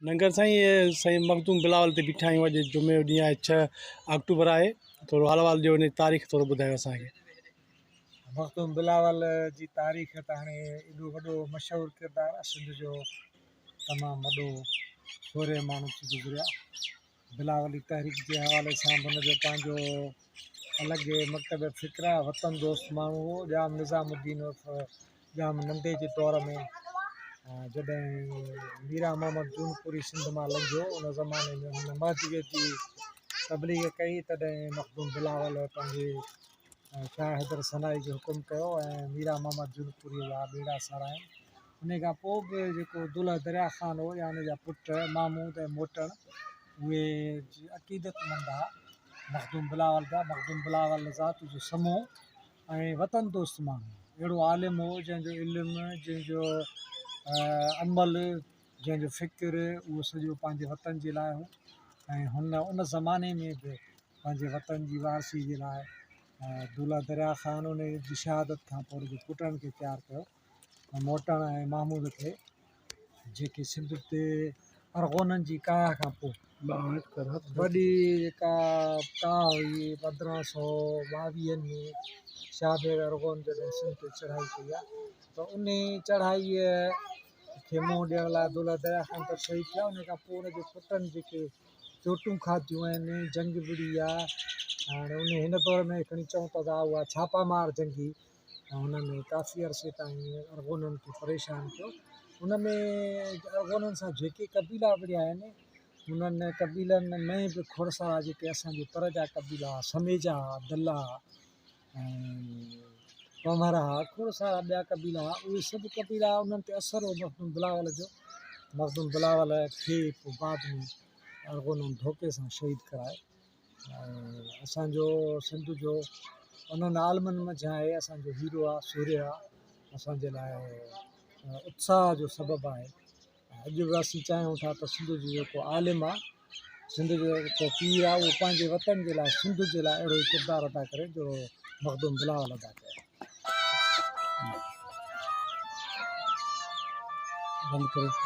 لنگر سائين اي سائين مخدوم بلاول تي بيٺا آهيون اڄ جمعي جو ڏينهن آهي ڇهه آڪٽوبر آهي ٿورو حال احوال ڏيو ان جي تاريخ ٿورو ٻڌايو اسان کي مخدوم بلاول جي تاريخ ته هاڻي ايڏو وڏو مشهور ڪردار سنڌ جو تمام وڏو ٿوري ماڻهو ٿي گذريا بلاول جي تحريڪ جي حوالي سان به ان جو پنهنجو الڳ مڪتب فڪر آهي، وطن دوست ماڻهو هو ڄام نظام الدين عرف ڄام ننڍي جي دور ۾ جڏهن ميران محمد جونپوري سنڌ مان لنگهيو ان زماني ۾ هن مهدويت جي تبليغ ڪئي تڏهن مخدوم بلاول پنهنجي شاهه حيدر سنائي جو حڪم ڪيو ۽ ميران محمد جونپوريء جا ٻيڙا سارايائين. انهيء کان پوء به جيڪو دلهه دريا خان هو يا ان جا پٽ محمود ۽ موٽڻ اهي عقيدتمند ها. مخدوم بلاول جا مخدوم بلاول ذات جو سمو ۽ وطن دوست ماڻهو هو. اهڙو عالم هو جنهن جو علم جنهن جو عمل جنهن جو فڪر اهو سڄو پنهنجي وطن جي لاء هو ۽ هن ان زماني ۾ به پنهنجي وطن جي وارثي جي لاء دولهه دريا خان ان جي شهادت کان پوء ان جي پٽن کي تيار ڪيو ۽ موٽڻ ۽ محمود کي جيڪي سنڌ تي ارغونن جي ڪاهه کان پوء وڏي جيڪا ڪاهه هئي پندرهن سو ٻاويهن ۾ شاهه بيگ ارغون جڏهن سنڌ تي چڙهائي ڪئي ته ان چڙهائيء کي منهن ڏيڻ لاء عبدالله درياء کان اتر شهيد ٿيا ان کان پوء ان جي پٽن جيڪي چوٽون کاتيون آهن جنگ وڙهي آ هاڻ ان هن دور ۾ کڻي چئون ته ادا هئا ڇاپا مار جنگي هن ۾ ڪافي عرصي تائين ارغونن کي پريشان ڪيو ان ۾ ارغونن سان جيڪي قبيلا وڙهيا آهن انهن قبيلن ۾ به کڙسرا جيڪي اسان جي پر جا قبيلا سميجا دلا پنهور ها، کوڙ سارا ٻيا قبيلا ها، اهي سڀ قبيلا انهن تي اثر هو مخدوم بلاول جو، مخدوم بلاول کي پوء بعد ۾ ارغونن ڌوڪي سان شهيد ڪرائي ۽ اسان جو سنڌ جو انهن عالمن منجهان هي اسان جو هيرو آ سورهيه آ اسان جي لاء اتساهه جو سبب آهي. اڄ به اسين چاهيون ٿا ته سنڌ جو جيڪو عالم آهي، سنڌ جو جيڪو پير آهي اهو پنهنجي وطن جي لاء سنڌ جي لاء اهڙو ئي ڪردار ادا ڪري جهڙو مخدوم بلاول ادا ڪيو. بند ڪريو.